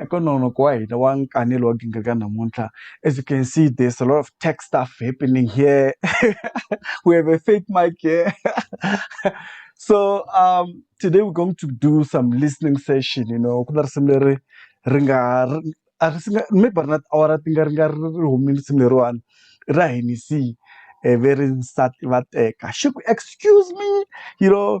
Eka nongonoko wa hina wa nkanelo wa gingaka namuntlha as you can see there's a lot of tech stuff happening here we have a fake mic here so um today we're going to do some listening session you know ku na risimu leri ri nga a ri singa maybe a ri na tiawara ti nga ri nga ri ri humile risimu leriwani i ra Hennessy ve ri nsati va teka xi ku excuse me you know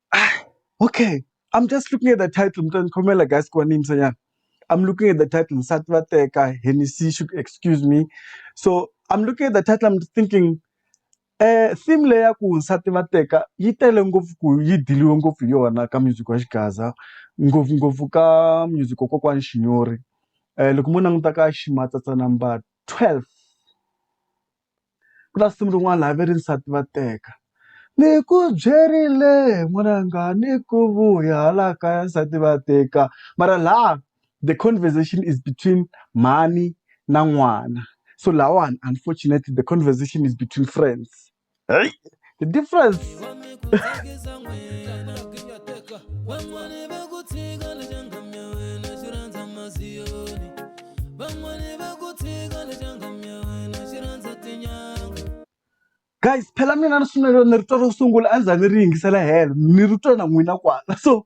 Ah, okay. I'm just looking at the title. Mntwana Khomela, guys, kwa nini msanyana? I'm looking at the title. Nsati va teka, Hennessy, should excuse me. So I'm looking at the title. I'm thinking, eh, theme leyi ya ku nsati va teka yi tele ngopfu ku yi diliwe ngopfu hi yona ka music wa Xigaza, ngopfungopfu ka music wa kokwani Xinyori. Eh, loko mo languta ka Ximatsatsa number 12 Ku na risimu rin'wana laha va ri nsati va teka ni ku byerile n'wananga ni ku vuya hala kaya nsati va teka mara laha the conversation is between mhani na n'wana so lahawani unfortunately the conversation is between friends . the difference guys phela mina ni swi navele ni ri twa ro sungula a ni za ni ri yingisela helo ni ri twa na n'wina kwala so.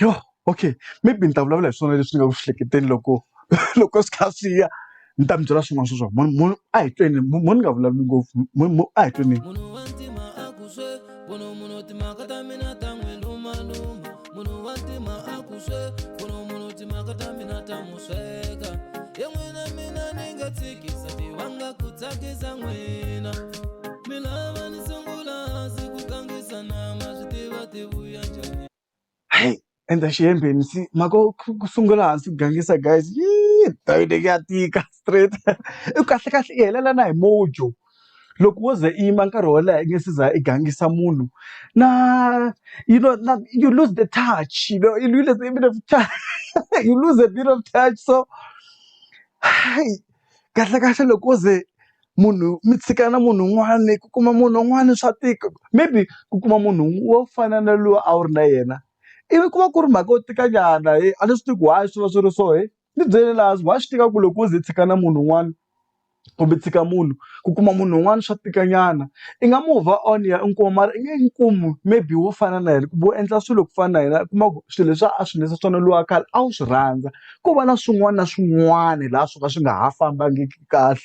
Yho okay maybe ni ta vulavula hi swona leswi nga ku hleketeni loko loko swi kha swi ya ni ta mi byela swin'wana swa swona a hi tweni mo ni nga vulavuli ngopfu mo a hi tweni. sweka ye n'wina mina ni nga tshikisa tivanga ku tsakisa n'wina mi lava ni sungula hansi ku gangisa nama swi tiva ti vuya njhani Hey, endla xihembeni si mhaka yo ku ku sungula hansi ku gangisa guys yii ndhawu leyi ya tika straight i kahle kahle i helela na hi mojo loko wo ze i yima nkarhi wo leha i nge se za i gangisa munhu na you know na you lose the touch you know you lose a bit of touch you lose a bit of touch so hayi kahlekahle loko wo ze munhu mi tshika na munhu un'wani ku kuma munhu un'wani swa tika maybe ku kuma munhu wo fana na loyi a wu ri na yena ivi ku va ku ri mhaka yo tika nyana a ni swi tivi ku why swi va swi ri so . Ni byele la hansi wa swi tiva ku loko u ze u tshika na munhu un'wana kumbe tshika munhu ku kuma munhu un'wana swa tika nyana i nga move on ya i kuma mara i nge n'wi kumi maybe wo fana na yena kumbe u endla swilo ku fana na yena u kuma ku swilo leswi a swi endlisa swona luwa khale a wu swi rhandza ko va na swin'wana na swin'wana laha swo ka swi nga ha fambangiki kahle.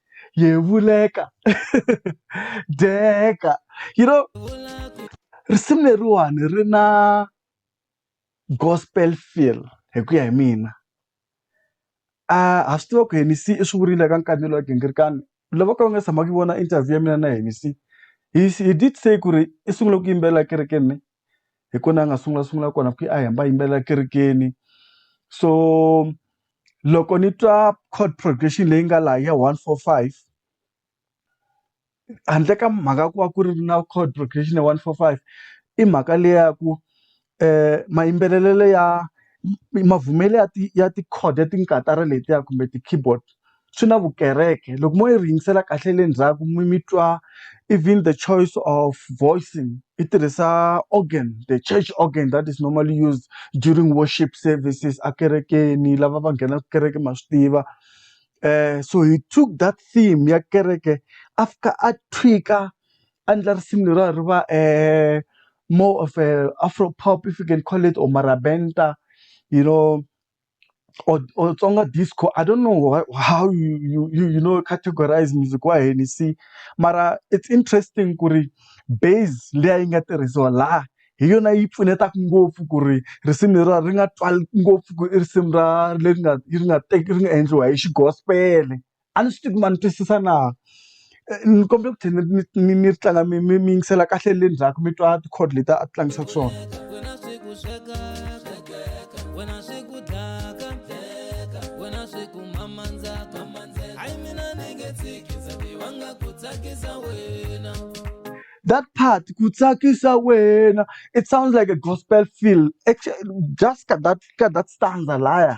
yevuleka dyeka you know risimu leriwani ri na gospel feel hi ku ya hi mina a ha swi tiva ku Hennessy i swi vurile ka nkarhi lowa gingirikani lava ka va nga tshama ku vona interview ya mina na Hennessy he he did say ku ri i sungule ku yimbelela ekerekeni hi kona a nga sungula sungula kona ku a hi hamba a yimbelela ekerekeni so loko ni twa chord progression leyi nga laha ya one four five handle ka mhaka ya ku va ku ri na chord progression ya one four five i mhaka leyi ya ku mayimbelelelo ya mavumelo ya ti ya ti-chord ya ti-katara letiya kumbe ti-keyboard. swi na vukereke loko mo yi ri yingisela kahle le ndzhaku mi mi twa even the choice of voicing yi tirhisa organ the church organ that is normally used during worship services a kerekeni lava va nghenaku kereke ma swi tiva so he took that theme ya kereke a fika a tweak-a a ndla risimu leriwa ri va more of a Afro pop if you can call it or marabenta you know. or or Tsonga disco I don't know why how you you you you know categorise music wa hina you see mara it's interesting ku ri base liya yi nga tirhisiwa laha hi yona yi pfunetaka ngopfu ku ri risimu leriwa ri nga twali ngopfu ku i risimu ra leri nga ri nga ri nga endliwa hi xi gospel-e. A ni swi tivi ku ma ni twisisa na ni kombela ku tlhela ni ni ni ri tlanga mi mi mi yingisela kahle le ndzhaku mi twa ti-chord leti a ti tlangisaka swona. That part ku tsakisa wena it sounds like a gospel feel just ka that ka that stanza lahaya.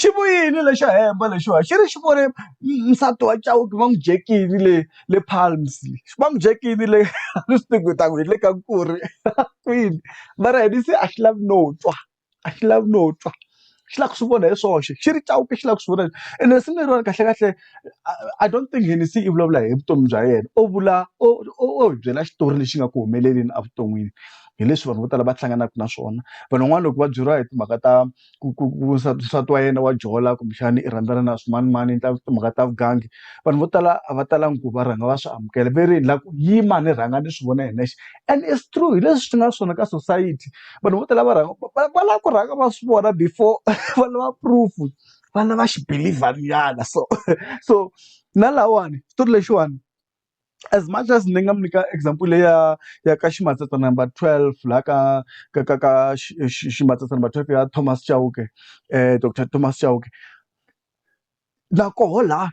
xi vuyile lexo hemba lexiwa xi ri xi vone nsati wa chauke va n'wi dyekini le le palms va n'wi dyekini le a ni swi tivi ku hi ta ku hi le ka ku ri kwini mara yena se a xi lavi no twa a xi lavi no twa xi lava ku swi vona hi swoxe xi ri chauke xi lava ku swi vona ene risimu leriwani kahlekahle. I don't think Hennessy i vulavula hi vutomi bya yena o vula o o hi byela xitori lexi nga ku humeleleni evuton'wini hi leswi vanhu vo tala va hlanganaka na swona vanhu van'wana loko va byeriwa hi timhaka ta ku ku ku nsati wa yena wa jola kumbexana i rhandzana na swimanimani endla timhaka ta vugangi vanhu vo tala a va talangi ku va rhanga va swi amukela ve ri la ku yima ni rhanga ni swi vona hi nexe and it's true hi leswi swi nga swona ka society vanhu vo tala va rhanga va lava ku rhanga va swi vona before va lava proof vana va xi believer nyana so so na lawani xitori lexiwani as much as ni nga mi nyika example leyi ya ya ka ximatsatsa number twelve laha ka ka ka ka ximatsatsa number twelve ya Thomas Chauke doctor Thomas Chauke na koho laha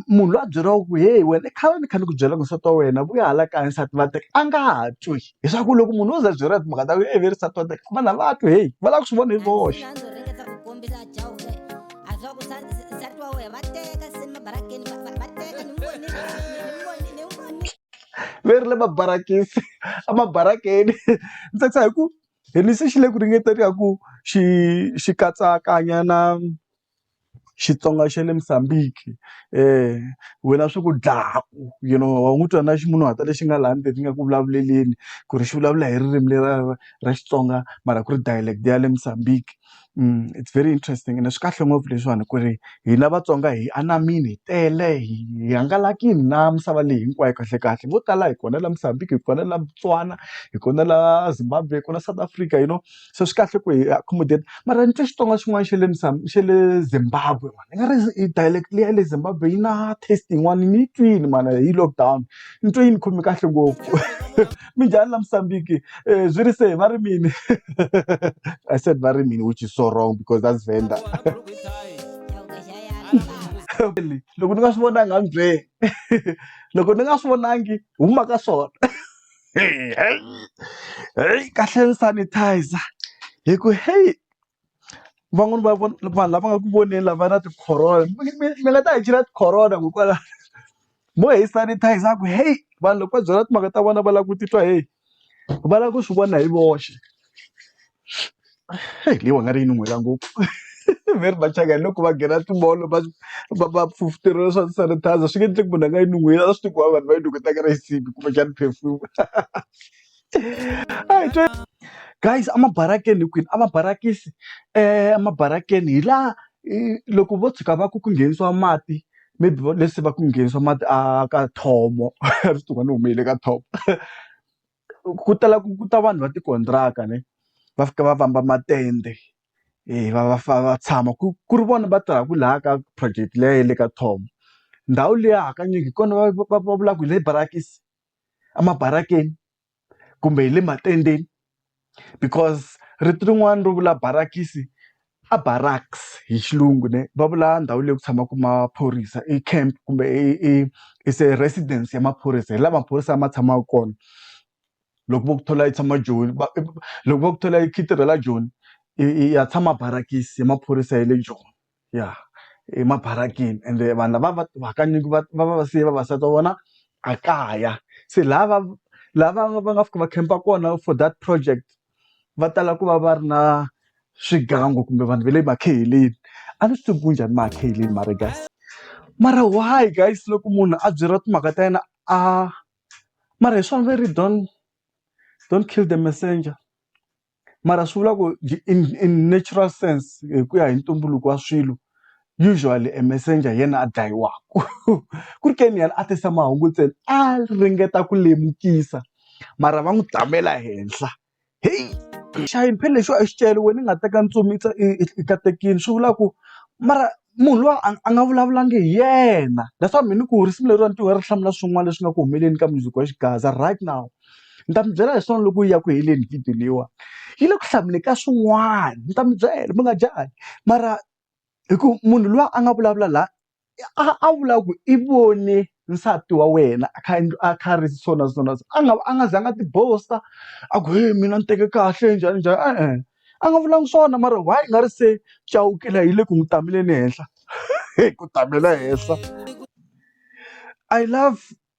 munhu loyi a byeriwaka ku heyi wena i khale ni kha ni ku byela ku nsati wa wena vuya hala kaya nsati va teka a nga ha twi leswaku loko munhu wo za a byeriwa timhaka ta ku i ve nsati wa teka vanhu a va twi heyi va lava ku swi vona hi voxe ve ri le mabarakisi a mabarakeni ni tsakisa hi ku hi ni se xi le ku ringeteni ka ku xi xi katsakanya na. Xitsonga xa le Mozambique wena swi ku dlaku you know wa n'wi twa na ximunhuhatwa lexi nga laha ndzeni nga ku vulavuleleni ku ri xi vulavula hi ririmi lera ra Xitsonga mara ku ri dialect ya le Mozambique it's very interesting ende swi kahle ngopfu leswiwani ku ri hina Vatsonga hi anamile hi tele hi hi hangalakile na misava leyi hinkwayo kahlekahle vo tala hi kona la Mozambique hi kona la Botswana hi kona la Zimbabwe hi kona South Africa you know. so swi kahle ku hi accommodate mara ni twe Xitsonga xin'wana xa le xa le Zimbabwe mhani i nga ri i dialect leyi ya le Zimbabwe yi na taste yin'wana ni yi twile mhana hi lockdown ni twe yi ni khome kahle ngopfu minjhani la Musambiki swi ri se va ri mini I said va ri mini which is so wrong because that's Venda loko ni nga swi vonangi a ni byeli loko ni nga swi vonangi huma ka swona. heyi heyi kahle ni sanitizer hi ku heyi van'wani va vanhu lava nga ku voneni lava na ti-corona mi mi mi nga ta hi chela ti-corona ku kwala mo hi sanitizer ku heyi vanhu loko va byela timhaka ta vona va lava ku titwa heyi va lava ku swi vona hi voxe. leyi wena ri yi nuhela ngopfu ve ri machangani loko va nghena ti-mall va va va fufuteriwa swa sanitizer swi nge endleki munhu a nga yi nuheli a swi tiva ku va vanhu va yi nuketa ka rhesipi kumbexana perfume guys a mabarakeni hi kwini a mabarakisi a mabarakeni hi laha loko vo tshuka va ku ku nghenisiwa mati maybe va leti se va ku nghenisiwa mati a ka thomo a swi tiva ku ni hume hi le ka thomo. ku tala ku ta vanhu va tikontiraka ne va fika va vamba matende va va fa va tshama ku ku ri vona va tirhaka laha ka project liya ya le ka Tom ndhawu liya hakanyingi hi kona va va va vulaka hi le barakisi emabarakeni kumbe hi le matendeni because rito rin'wana ro vula barakisi A barracks hi xilungu ne va vula ndhawu leyi ku tshamaka maphorisa i camp kumbe i i i se residence ya maphorisa hi la maphorisa ma tshamaka kona loko vo ku thola yi tshama joni va loko va ku thola yi khitirhela joni i ya tshama barakisi ya maphorisa ya le joni ya emabarakeni ende vanhu lava va va hakanyingi va va va va siye vavasati va vona a kaya se lava lava va nga fika va khempa kona for that project. va tala ku va va ri na swigangu kumbe vanhu va le makheheleni a ni swi tivi ku njhani makheheleni mara guys mara why guys loko munhu a byeriwa timhaka ta yena a mara hi swona va ri don't don't kill the messenger mara swi vula ku in in natural sense hi ku ya hi ntumbuluko wa swilo Usually a messenger hi yena a dlayiwaka ku ri ke ni yena a tisa mahungu ntsena a ringeta ku lemukisa mara va n'wi tamela henhla heyi xihayini phela lexiwa i xicele wena i nga teka ntsumi i katekini swi vula ku mara munhu luwa a a nga vulavulangi hi yena that's why me ni ku risimu leriwani ni twa ri hlamula swin'wana leswi nga ku humeleni ka mundzuku wa xigaza right now ni ta mi byela hi swona loko yi ya ku heleni video leyiwani yi le ku hlamuleni ka swin'wana ni ta mi byela mi nga jahi mara. hi ku munhu luya a nga vulavula la a vula ku i vone nsati wa wena a kha a endla a kha a ri so na so na so a nga a nga zanga a ti boast-a a ku he mina ni teke kahle njhani njhani e-e a nga vulanga swona mara why i nga ri se Chauke la yi le ku n'wi tamele ni henhla ku tamela henhla I love.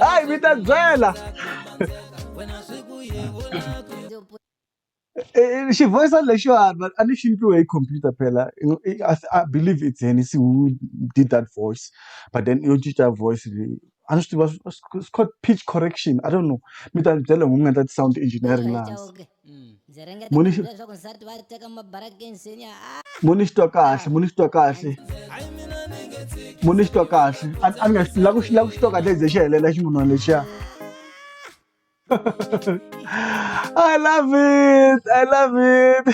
hayi mi ta byela xivoyisa lexiwani a ni xi ndliwe hi computer phela i believe it's henisi who did that voice but then yo cinca voice leyi a ni swi tiva it's called pitch correction i don't know mi ta ni byela hi ku nga ta ti-sound engineering laha hansi. mo ni mo ni xitwa kahle mo ni xitwa kahle mo ni xitwa kahle a ni nga la ku la ku xitwa kahle ze xi helela ximunhwana lexiya I love it I love it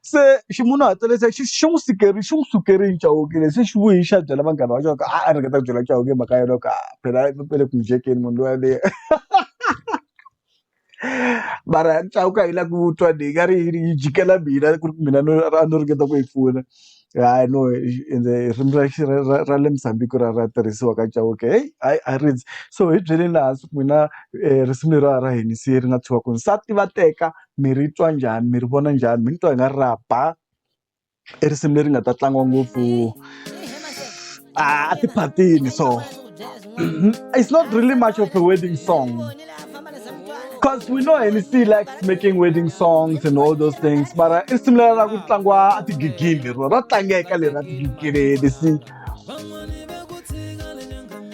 se ximunhuhatelo se xi xi n'wi sikeri xi n'wi sukerile chauke lexi xi vuyi xa byela vanghana va xona a a ringeta ku byela chauke mhaka yona ka phela pele ku njekeni munhu loyaleyo mara chauke a yi lavi ku twa ni nga ri yini yi jikela mina ku ri mina no a no ringeta ku yi pfuna hayi no ende ririmi ra ra ra ra le Mozambique ra ra tirhisiwa ka chauke heyi a a rindzi so hi byeleni hansi ku n'wina risimu leriwa ra hina se ri nga tshiwa kwini nsati va teka mi ri twa njhani mi ri vona njhani mi ni twa i nga ri ra ba. i risimu leri nga ta tlangiwa ngopfu a tiphatini so it's not really much of a wedding song cause we know Hennessy still likes making wedding songs and all those things mara i risimu leri ra ku tlangiwa a tigigini lero ra tlangeka leri ra tigigini Hennessy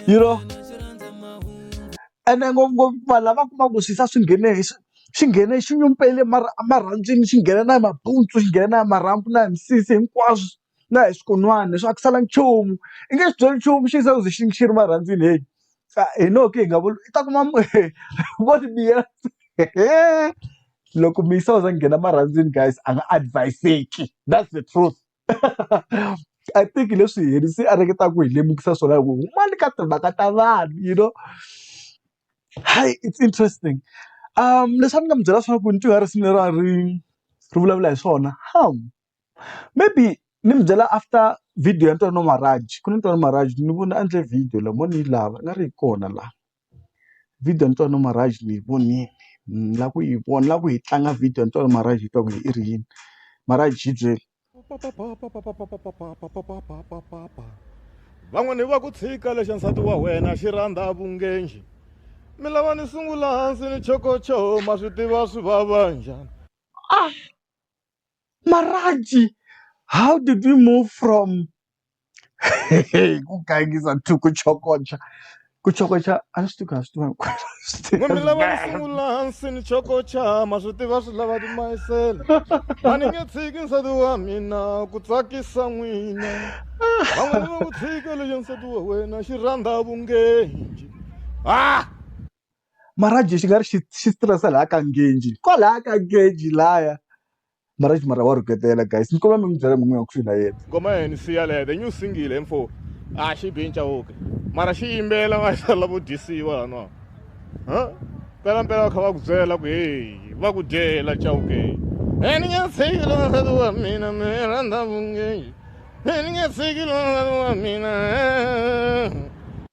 you know ene ngopfungopfu vanhu lava kumaka ku swisa swi nghene hi xi nghene xi nyumpele mara emarhandzwini xi nghena na hi mabuntsu xi nghena na hi marhambu na hi misisi hinkwaswo na hi swikon'wana leswi a ku salanga nchumu i nge xi byali nchumu xi za ku ze xi xi ri marhandzwini heyi hi no ka hi nga vuli i ta kuma vo ti biyela hehe loko muyisa u za nghena marhandzwini guys a nga advise-ki that's the truth. I think hi leswi yena se a ringetaka ku hi lemukisa swona hi ku humani ka timhaka ta vanhu you know hi it's interesting leswi a ni nga mi byela swona ku ni twa risimu leriwa ri ri vulavula hi swona maybe ni mi byela after video ya Ntwanano Marhaj ku na Ntwanano Marhaj ni vona a endle video la mo ni yi lava i nga ri yi kona la. video ni twa ni marhavi ni yi vonile ni lava ku yi vona ni lava ku yi tlanga video ni twa ni marhavi yi twa ku i ri yini mara a byi byeli van'wani va ku tshika lexa nsati wa wena xi rhandza vungenji mi lava ni sungula hansi ni chokocho ma swi tiva swi vava njhani ah Marhaji how did we move from ku gangisa to ku chokocha ku chokocha a ni swi tivi ku a swi tiva hinkwerhu mi lava ni sungula hansi ni chokocha ma swi tiva swi lava timayisela a ni nge tshiki nsati wa mina ku tsakisa n'wina van'wana va ku tshika lexo nsati wa wena xi rhandza vungenji ah mara a dye xi nga ri xi xi stress-a laya ka nghenji kwalaya ka nghenji laya mara exi mara wa rhuketela guys ni kombela mi n'wi byela n'wini ku swi la yena ngoma ya hina siya leya the new single info a xi bi ncawuke mara xi yimbela va xi lavo dyisiwa laniwa ha mpelampela va kha va ku byela ku heyi va ku dyela cawuke e ni nge tshiki lona nsati wa mina mi rhandza vungeji e ni nge tshiki lona nsati wa mina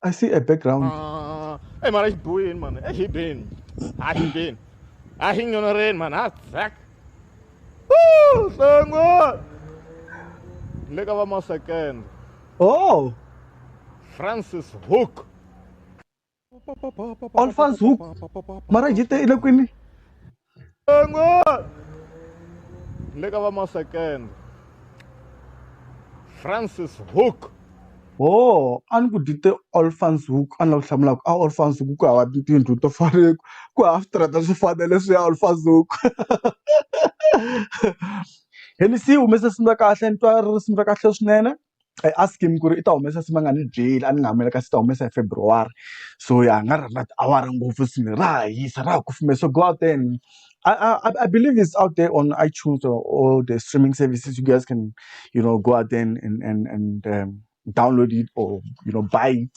I see a background. Ah, hey man, echt boeien man. Echt je been. Ah, je been. Ah, ging er een man. Ah, zak. Woo, songo. Lekker wat maar second. Oh. Francis Hook. Alphonse Hook. Mara jete ile kwini. le ka va masekende francis hook ho a ni ku dyi te olfans hook a ni la ku hlamula ku a olfans hook ku hava tindlu to fana ku ku hava switirata swi fana leswi ya olfans hook heni si humese swi kahle ni twa risimu ra kahle swinene I ask him ku ri i ta humesa swi nga ni byeli a ni nga hambana kasi u ta humesa hi February so ya a nga ri na tiawara ngopfu swilo ra ha hisa ra ha kufumela so go out there and I I I believe is out there on iTunes or or the streaming services you guys can you know go out there and and and and download it or you know buy it.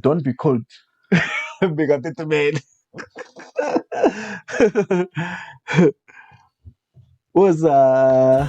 don't be cold bekatitimele uza